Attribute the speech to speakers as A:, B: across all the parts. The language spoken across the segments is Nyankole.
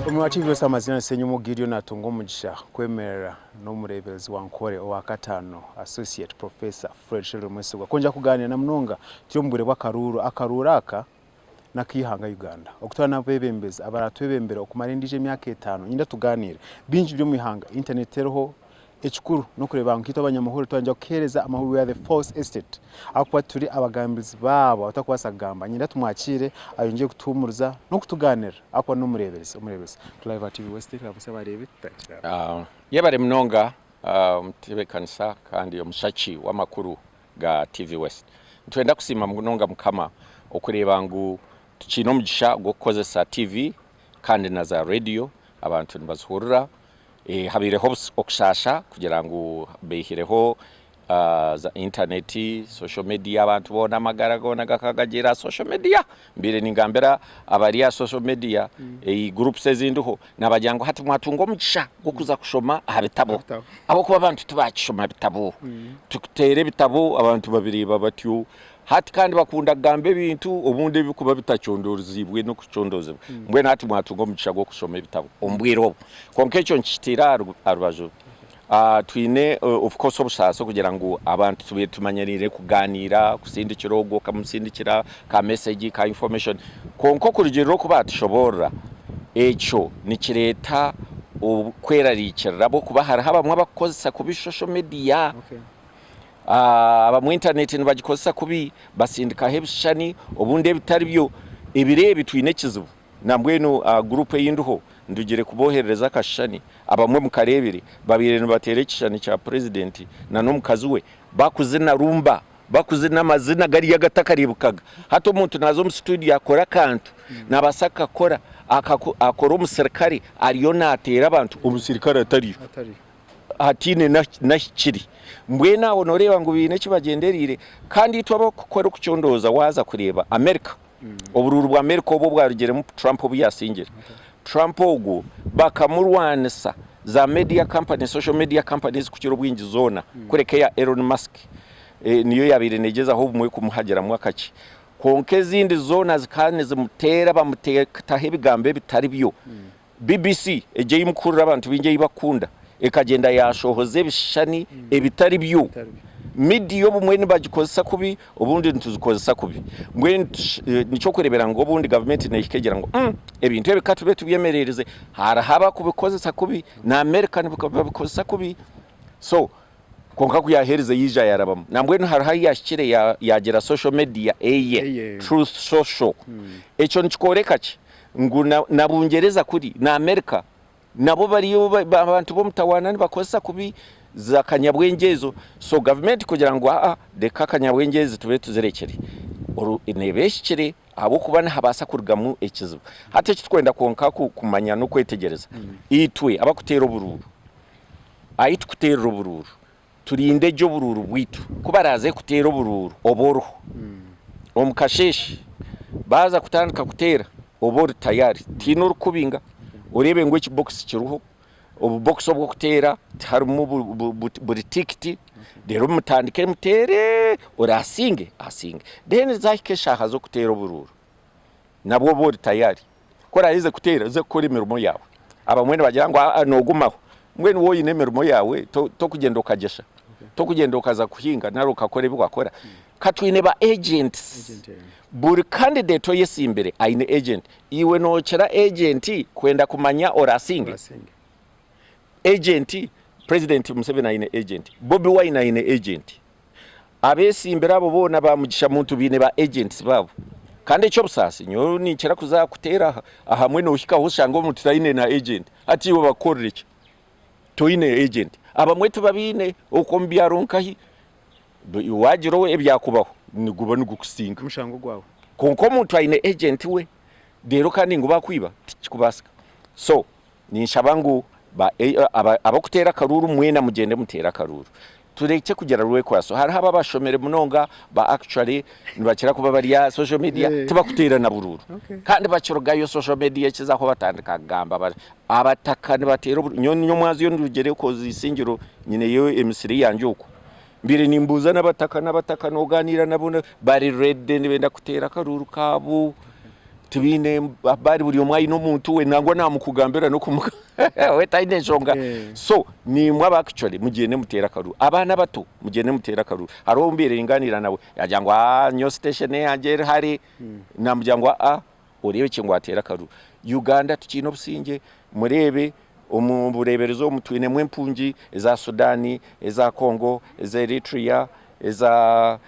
A: Omurora TV yoosi amazina ni Senyomo Gideon naatunga omugisha kwemerera n'omureeberezi wa Nkore owa kataano Associate Professor Fred Shelder Mwesigwa kwongera kugaaniira na munonga turi omu bwire bw'akaruuru. Akaruuru aka n'ak'eihanga Uganda okutwara n'abeebembezi abaraatwebembera okumara endiijo emyaka etaano. Nyenda tugaaniire bingi biri omu ihanga, internet teriho, Ekikuru n'okureeba nk'itwe abanyamahoro twayengera kuheereza amahoro we are the false estate ahakuba turi abagambirizi baabo abatarikubaasa kugamba niinyenda tumwakiire ayongyere kutuhuumuriza n'okutugaanirira ahakuba n'omureeberezi omureeberezi Cliver TV West ramutsya abareebi tutagira abo. Yebare munonga
B: omutebekanisa kandi omushaki w'amakuru ga TV West. Nitwenda kusiima munonga Mukama okureeba ngu tukiine omugisha gw'okukozesa TV kandi na za radiyo abantu nibazihurira Habaireho okushaasha kugira ngu baihireho za intaneeti, social media, abantu boona amagara goona gakaba gari aha social media. Mbaire ningambira abari aha social media, groups ezindiho, nabagira ngu hati mwatunga omugisha gw'okuza kushoma aha bitabo ahabw'okuba abantu tibakishoma bitabo. Tukuteera ebitabo abantu babireeba batyo. Hati kandi bakunda kugamba ebintu obundi ebirikuba bitacondoziibwe n'okucondoozibwa. Mbwenu hati mwatunga omugisha gw'okushoma ebitabo omu bwire obu. Kwonka ekyo nikikitiira aha rubaju. Twine obukukoresa obusaasi kugira ngu abantu tubaire tumanyiriire kugaaniira, kusindikira ogu okamusindikira ka mesegi, ka infomeshoni. Kwonka okurugiirira oku baatushoboorora, ekyo nikireeta kwerariikirira ahabw'okuba hariho abamwe abarikukoresa kubi shosho mediya. Abamwe intaneeti nibagikozesa kubi, batsindikaho ebishushani obundi ebitari byo. Ebiro ebi twine ekizibu, nambwenu aha guruupu ei ndiho ndugire kubooherereza akashushani abamwe mukareebire. Babaire nibateera ekishushani kya purezidenti nana omukazi we bakuzina rumba, bakuzina amazina gariya agatakareebekaga. Hati omuntu naaza omu situudiyo akore akantu, naabaasa kukakora, akakore omusirikare ariyo naateera abantu omusirikare atariyo. hataine n'ahi kiri. Mbwenu abo nooreeba ngu baine eki bagyendereire. Kandi itwe ab'okukora okucondooza waaza kureeba Amerika, oburuuru bwa Amerika obu obwarugiremu Trump obu yaatsingire. Trump ogwo bakamurwanisa za media companies, social media companies kukira obwingi zoona kureka eya Elon Musk niyo yaabaire neegyezaho obumwe kumuhagiramu akakye. Kwonka ezindi zoona zikaba nizimuteera bamuteekaho ebigambo ebitari byo BBC egyo ei mukuhurira abantu baingi ei bakukunda ekagyenda yaashohoza ebishushani ebitari byo. Midiya obumwe nibagikozesa kubi, obundi nituzikozesa kubi. Mbwenu niky'okureebera ngu obundi gavumenti neehika egira ngu, umm, ebintu ebi ka tube tubyemereirize. Hariho abakubikozesa kubi, n'Amerika nibabikozesa kubi. So Kwonka ku yaaherize yaija yaarabamu. Nambwenu hariho ahu yaahikire yaagira social media eye, Truth Social. Ekyo nikikooreka ki? Ngu na Bungyereza kuri, na Amerika, nabo bariyo abantu b'omutawaana nibakozesa kubi za kanyabwengye ezo. So gavumenti kugira ngu aa reka kanyabwengye ezi tube tuzirekire, neeba ehikire ahabw'okuba nihabaasa kurugamu ekizibu. Hati eki turikwenda kwonka kumanya n'okwetegyereza, itwe abarikuteera oburuuru, Ahi tukuteerera oburuuru, turinde gye oburuuru bwaitu ku baraaze kuteera oburuuru oba oriho. Omu kasheeshe baaza kutandika kuteera, oba ori tayari, tihaine orikukubinga. Oreebe ngu ekibokisi kiriho, obubokisi obu orikuteera tiharimu buri tiikiti, reero mutandike muteere, oraasinge asinge. Reero zaahika eshaaha z'okuteera oburuuru, nabwo obe ori tayari. Ku oraherize kuteera, oze kukora emirimo yaawe. Abamwe nibagira ngu aa noogumaho. Mbwenu waaba oine emirimo yaawe, torikugyenda okagyesha, torikugyenda okaza kuhinga nari okakora ebi wakora. Ka twine ba agents. Buri candidate oyetsimbire aine agent. Iwe nookira agent kwenda kumanya oraasinge? Agent, President Museveni aine agent. Bobi Wine aine agent. Abeesimbire abo boona ba Mugisha Muntu baine ba agents baabo. Kandi eky'obusaasi nyowe ninkira kuza kuteera ahamwe noohikaho oshange omuntu taine na agent. Hati iwe bakukorere ki toine agent? Abamwe tibabaine okwo omu byaro nkahi waagira ebyakubaho niguba nigukusinga. Omushango gwawe.
A: Kwonka omuntu aine
B: agent we reero kandi ngu baakwiba tikikubaasika. So Ninshaba ngu ba ab'okuteera akaruuru mwena mugyende muteere akaruuru turekye kugira rwekwaso. Hariho aba abashomire munonga ba actually nibakira kuba bari aha social media tibakuteera na buruuru kandi bakirugayo social media ekizaho batandika kugamba bari abataka nibateera oburuuru. Nyowe ninye omwazi ondi rugyere coz isingiro nyineyo emisiri yangye okwo Mbaire nimbuuza n'abataka n'abataka n'ogaaniira nabo bari reedi nibenda kuteera akaruuru kaabo tibaine baari buri omwe aine omuntu we nangwa naamukugambira n'okumuga we taine nshonga eh. so nimwe aba actually mugyende muteere akaruuru abaana abato mugyende muteere akaruuru hariho obu mbaire ningaaniira nawe yagira ngu ah nyowe station yangye eri hare hmm. naamugira ngu aa ah, oreebekye ngu ateera akaruru Uganda tukiine obusingye mureebe omu bureeberezi omu twinemu empungi eza Sudan, eza Congo, eza Eritrea, eza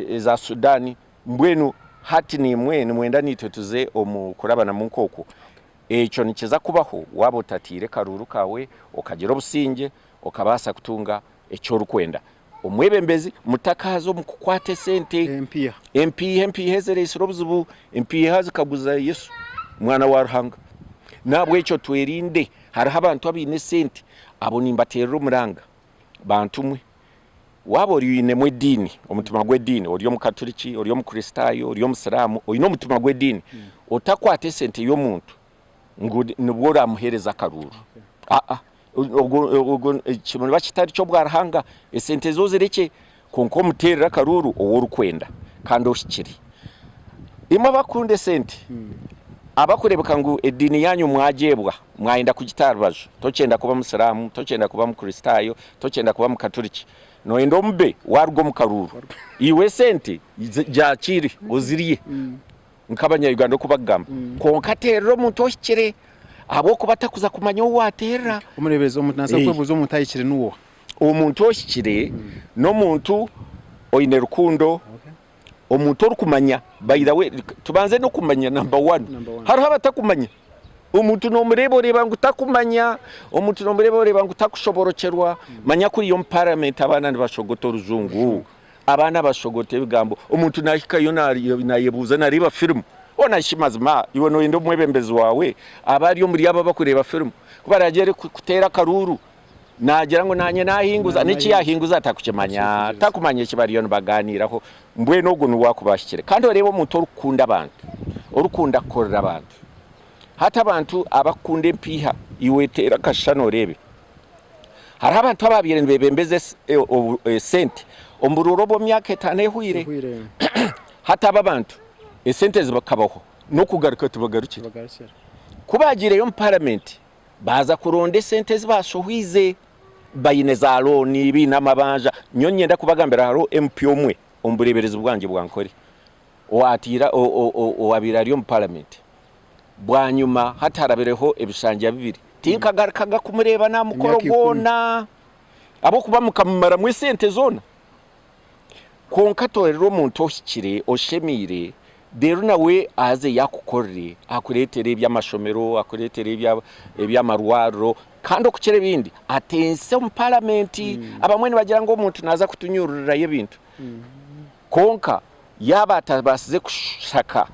B: eza Sudan mbwenu hati nimwe nimwenda naitwe tuze omu kurabanamu nk'okwo? Ekyo nikiza kubaho waaba otataire karuru kaawe okagira obusingye okabaasa kutunga eki orikwenda Omwebembezi, Mutakaaza omu kukwata esente. Empiiha, Empiiha ezireetsire obuzibu. Empiiha zikaguza Yesu, Mwana wa Ruhanga. N'ahabw'ekyo twerinde. Hariho abantu abaine esente. Abo nimbateerera omuranga. Bantu mwe. Waaba ori oinemu ediini, omutima gw'ediini, ori Omukaturiki, ori Omukristaayo, ori Omusiraamu, oine omutima gw'ediini, otakwata esente y'omuntu, ngu nibwo oraamuheereza akaruuru. Aa, ogwo, ogwo ekyo niba kitari ky'obwa Ruhanga, esente zo zirekye, kwonka omuteerere akaruuru ou orikwenda kandi ohikire. Imwe abarikukunda esente, abarikureebeka ngu ediini yaanyu mwagyeebwa, mwayenda kugita aha rubaju, tokyenda kuba Musiraamu, tokyenda kuba Mukristaayo, tokyenda kuba Mukaturiki, nooyenda omube waaruga omu karuuru, iwe esente zi, gyakiire ozirye. nk'abanya-Uganda oku bakugamba kwonka ateerera omuntu ohikire ahabw'okuba atakuza kumanya ou ateerera. Omureeberezi, omuntu naabaasa
A: kwebuuza omuntu ahikire niwooha? Omuntu ohikire
B: n'omuntu oine rukundo, omuntu orikumanya. By the way, tubanze n'okumanya namba wani. Hariho abatakumanya. Omuntu noomureeba oreeba ngu takumanya, omuntu noomureeba oreeba ngu takushoborokyerwa, manya kuriya omu paramenti abaana nibashogota orujungu. Abaana bashogote ebigambo omuntu nahikayo nayebuuza nareeba firimu Ona shi mazima iwe noyenda omwebembezi waawe abe ari omuri abo abakureeba firimu ku baragyere kuteera akaruuru nagira ngu naanye nahinguza n'eki yahinguza atakukimanya takumanya eki bariyo nibagaaniiraho mbwenu ogwo niwe waakuba ahikire kandi oreeba omuntu orikukunda abantu orikukunda kukorera abantu hati abantu abakukunda empiiha iwe teera akashushani oreebe. Hariho abantu abaabaire nibebembeza esente omu buruura obw'emyaka etaano ehweire hataba abantu esente zibakabaho n'okugaruka tibagarukire ku baagiireyo omu paramenti baaza kuronda esente ezi baashohwize baine za looni baine amabanja nyowe niinyenda kubagambira hariho MP omwe omu bureeberezi bwangye bw'Ankole owaabaire ari omu Paramenti. Bwanyima hati harabireho ebishanja bibiri tinkagarukaga kumureeba n'aha mukoro gwona ahabw'okuba mukamumaramu esente zoona. Kwonka toroorera omuntu ohikire, oshemeire reero nawe aze yaakukorere, akureetere eby'amashomero, akureetere eby'amarwariro kandi okukira ebindi ateese omu Paramenti. Abamwe nibagira ngu omuntu naaza kutunyuururirayo ebintu kwonka. Yaaba atabaasize kushaka,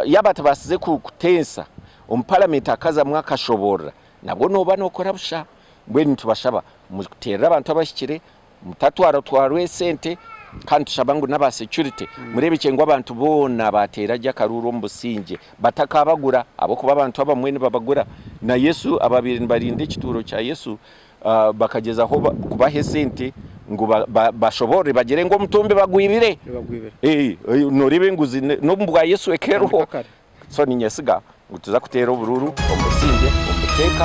B: yaaba atabaasize kuteesa omu paramenti akazamu akashoboorora, nabwo nooba nookora busha. Mbwenu nitubashaba muteerere abantu abahikire, mutatwaratwarwa esente, kandi nitushaba ngu n'aba securite mureebekye ngu abantu boona baateera gye akaruuru omu busingye batakaabagura ahabw'okuba abantu abamwe nibabagura. Na Yesu abaabaire nibarinda ekituuro kya Yesu, bakagyezaho kubaha esente ngu bashoborore bagyere ngu omutumbi bagwibire noreeba enguzi n'omu bwa Yesu eka eriho so ninyesiga ngu tuza kuteera obururu omu busingye omu buteeka